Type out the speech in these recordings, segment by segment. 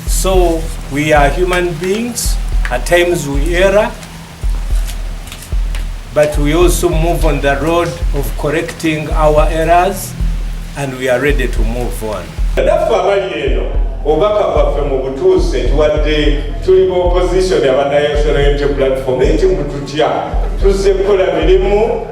So we are human beings. At times we err, but we also move on the road of correcting our errors and we are ready to move on. Naffe abali eno obubaka bwaffe mu butuusi nti wadde tuli mu opposition aba National Unity Platform naye kye mututya tuzze kukola mirimu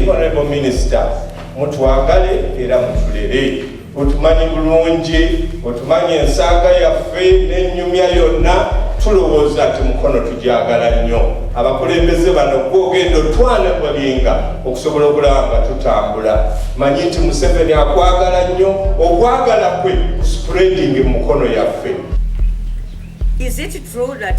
Honorable Minister, mutwagale era mutulere otumanyi bulungi otumanyi ensaaga yaffe n'ennyumya yonna tulowooza nti mukono tugyagala nnyo abakulembeze bano gwogenda otwana balinga okusobola okulaba nga tutambula manyi nti museveni akwagala nnyo okwagala kwe spreading mukono yaffe Is it true that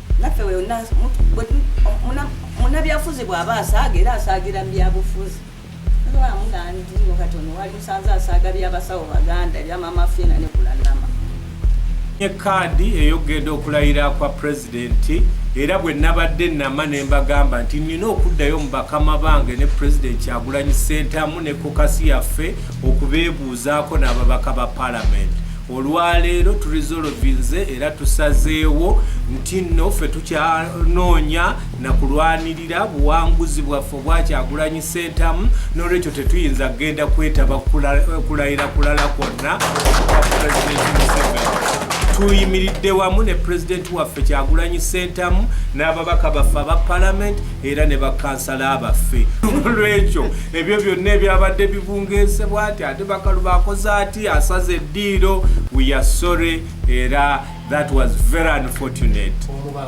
naffe munabyafuzi bwaba asaaga era asaagira mubyabufuzi amugandiino kati ono wali musanze asaaga byabasawo baganda ebyamama fiina ne kulanama ekaadi eyogenda okulayira kwa pulezidenti era bwe nabadde nama ne mbagamba nti nina okuddayo mu bakama bange ne pulezidenti kyagulanyi sentamu ne kokasi yaffe okubeebuuzaako n'ababaka ba palamenti olwaleero turizolovinze era tusazeewo nti nno ffe tukyanoonya nakulwanirira buwanguzi bwaffe obwakyagulanyi sentamu nolwekyo tetuyinza kugenda kwetaba kulayira kulala kwonna tuyimiridde wamu ne pulezidenti waffe kyagulanyi sentamu n'ababaka baffe aba palamenti era ne bakansala baffe olwekyo ebyo byonna ebyabadde bibungesebwa ati ate bakalu bakoze ati si asaze diiro we are sorry era that was very unfortunate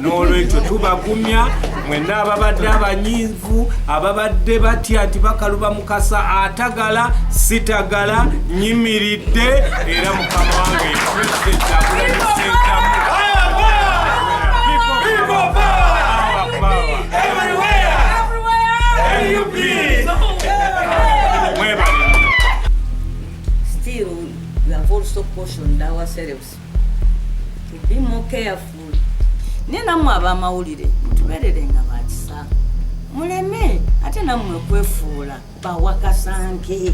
n'olwekyo tubagumya mwenna ababadde abanyivu ababadde batya nti bakaluba mukasa atagala sitagala nyimiridde era mukama wange president akulanisenkamu Still, we have also cautioned ourselves to be more careful. Naye nammwe ab'amawulire mutubeererenga ba kisa, muleme ate nammwe kwefuula bawakasanke.